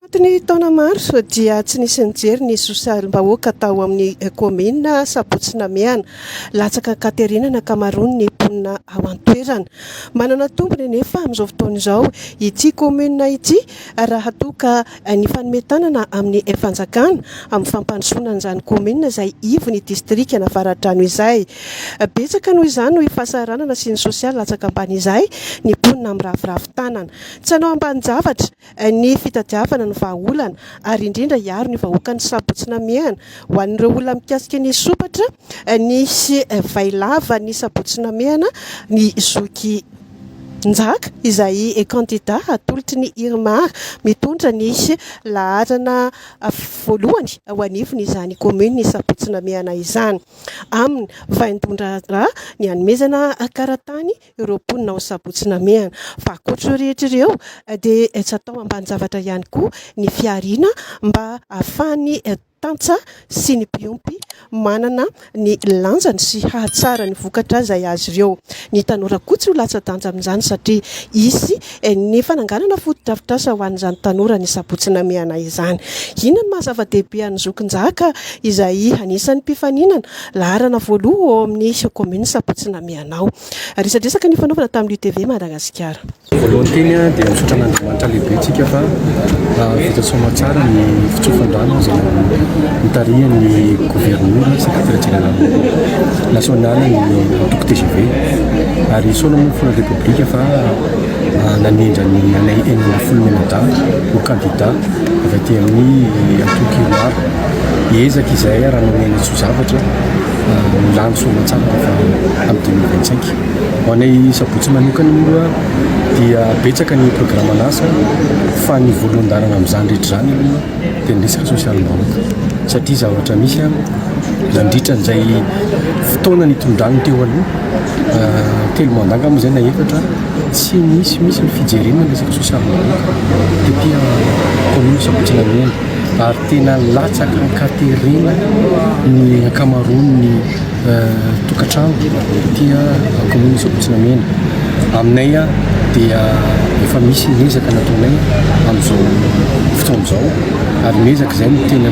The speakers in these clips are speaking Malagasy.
Tato ny taona maro dia tsy nisy nijery ny sosialim-bahoaka tao amin'ny kaominina Sabotsy Namehana. Latsaka an-katerena ny ankamaroan'ny mponina ao an-toerana. Manana tombony anefa amin'izao fotoana izao ity kaominina ity raha toa ka nifanome tanana amin'ny fanjakana amin'ny fampandrosoana an'izany kaominina izay ivon'ny distrikan' Avaradrano izay. Betsaka noho izany noho io fahasahiranana sy ny sosialy latsaka ambany izay ny mponina miraviravy tanana. Tsy hanao ambanin-javatra. ny fitadiavana ny vahaolana ary indrindra hiaro ny vahoaka ny sabotsy namehana. Ho an'ireo olona mikasika ny sompatra, nisy vay lava ny sabotsy namehana ny zoky Njaka izay kandida hatolotry ny Irmar mitondra ny laharana voalohany ho anivon'izany kaominina ny sabotsy namehana izany. Aminy, vain-dohan-draharaha ny hanomezana karatany ireo mponina ao Sabotsy Namehana. Fa ankoatra ireo rehetra ireo dia tsy atao ambanin-javatra ihany koa ny fihariana mba ahafahan'ny tantsa sy ny mpiompy manana ny lanjany sy hahatsara ny vokatra izay azy ireo. Ny tanora koa tsy ho latsa-danja amin'izany satria hisy ny fananganana fotodrafitrasa ho an'izany tanora ny sabotsy namehana izany. Inona ny maha zava-dehibe an'i Zokinjaka izay anisan'ny mpifaninana laharana voaloha ao amin'ny kaominina sabotsy namehana ao. Resadresaka nifanaovana tamin'ny UTV Madagasikara. Voalohany teny dia misaotra an'Andriamanitra lehibentsika fa vita soamantsara ny fitsofan-drano izay nitarihan'ny governemanta sy ny sekretera jeneralin'ny. Nasional ny antoko tgv ary i Sôna moa mifona repoblika fa nanendra ny anay enina ambin'ny folo memada ho kandida avy aty amin'ny antoko Irmar. Hiezaka izahay arahanao Nenatsoa Zavatra milany soamantsara rehefa amin'ny dimy amby roanjato sy enina ho anay Sabotsy manokana moa dia betsaka ny programan'asa fa ny voalohan-dalana amin'izany rehetra izany aloha dia ny resaka sosialim-bahoaka satria zavatra misy Nandritra an'izay fotoana nitondrany teo aloha, telo mandat angamba izay na efatra, tsy nisy mihitsy ny fijerena ny resaka sosialim-bahoaka tety amin'ny kaominina Sabotsy-Namena ary tena latsaka an-katerena ny ankamaroan'ny tokantrano tety amin'ny kaominina Sabotsy-Namena. Aminay dia efa misy ny ezaka nataonay amin'izao fotoana izao ary ny ezaka izay no tena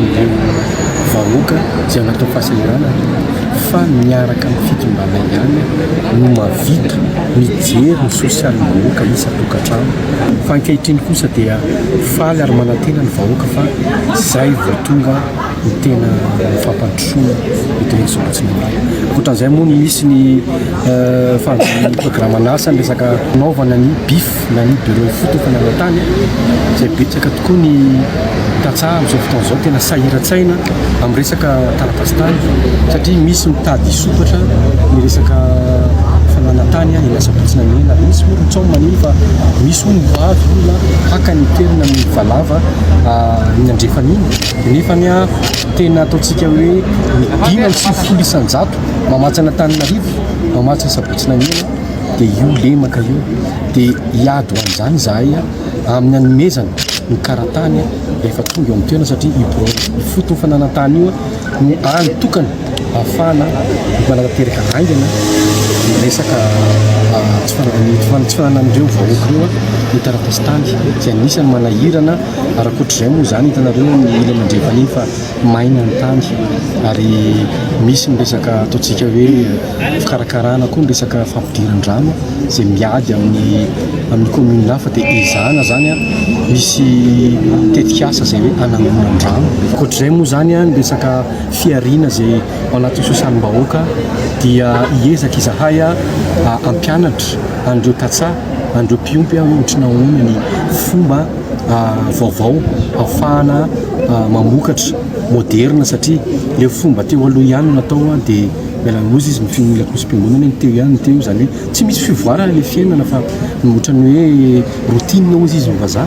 vahoaka izay natao fahasahiranana fa miaraka amin'ny fitondrana ihany no mahavita mijery ny sosialin'ny vahoaka isan-tokantrano fa ankehitriny kosa dia faly ary manantena ny vahoaka fa izay vao tonga ny tena fampandrosoana eto Nosy Ampatsimihana. Ankoatran'izay moa no misy ny eh, fanjohian'ny programan'asa ny resaka fanaovana ny BIF. na ny birao foot efa nanao tany izay betsaka tokoa ny tantsaha amin'izao fotoana izao tena sahiran-tsaina amin'ny resaka taratasy tany satria misy mitady hisokatra ny resaka fanana tany eny asabotsy na eny ary misy moa ry tsaho manino fa misy hono mivady olona haka ny toerana ny valava ny andrefan'iny nefa ny ah tena ataontsika hoe dimy amby sivifolo isan-jato mamatsy an'Antananarivo mamatsy ny asabotsy na eny dia io lemaka io dia hiady ho an'izany izahay amin'ny hanomezana ny karatany rehefa tonga eo amin'ny toerana satria io birao ifoto fananantany io no any tokana ahafahana manatanteraka haingana ny resaka tsy fananany tsy fananan'ireo vahoaka ireo ny taratasitany izay anisany manahirana arakoatr'izay moa izany hitanareo ny ila mandrefa nefa maina ny tany ary misy ny resaka ataontsika hoe ny fikarakarana koa ny resaka fampidiran-drano izay miady amin'ny amin'ny commune hafa dia ezahana izany an, misy tetikasa izay hoe hanangonan-drano. Ankoatr'izay moa izany an, ny resaka fihariana izay ao anatin'ny sosialim-bahoaka dia hiezaka izahay hampianatra an'ireo tantsaha, an'ireo mpiompy hoe ohatry ny ahoana ny fomba vaovao ahafahana mamokatra moderina satria ilay fomba teo aloha ihany no natao dia Miala loza izy mifehy ny lakosim-piangonana ny teo ihany ny teo izany hoe tsy misy fivoarana ilay fiainana fa ohatran'ny hoe routine hozy izy ny vazaha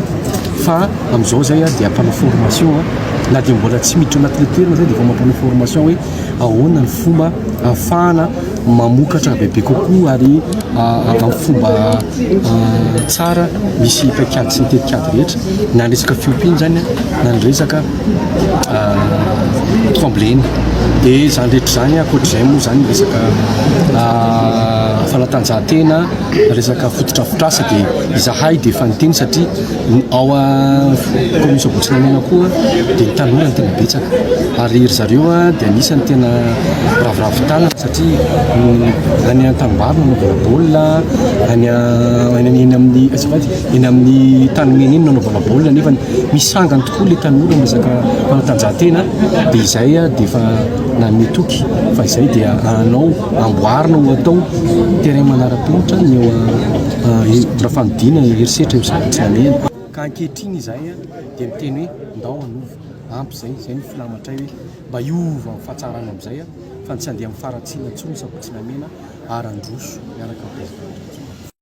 fa amin'izao izay a dia mpanao formation a na dia mbola tsy miditra anatin'ilay toerana izay dia efa mampanao formation hoe ahoana ny fomba ahafahana mamokatra bebe kokoa ary amin'ny fomba tsara misy paikady sy ny tetikady rehetra na ny resaka fiompiana izany a na ny resaka tremblena dia izany rehetra izany ankoatr'izay moa izany resaka fanatanjahantena resaka fototrafotrasa dia izahay dia efa niteny satria ao commune Soabotsinainana koa dia tanora no tena betsaka ary ry zareo dia anisan'ny tena ravoravo tanana satria any an-tanimbary no nanaovana baolina any any amin'ny azafady Eny amin'ny tany mena eny nanaovana baolina nefa misy sangany tokoa ilay tanora miresaka fanatanjahantena dia izay dia efa nanome toky fa izay dia anao amboarina ho atao terrain manara-penitra ny eo Rafanodina herisetra io sady tsy namehana ka ankehitriny izahay dia miteny hoe ndao hanova ampy izay izay ny filamatray hoe mba hiova ny fahatsarana amin'izay fa ny tsy handeha amin'ny faharatsiana intsony sabotsy namehana ary handroso miaraka amin'ny mpiady faharatsiana.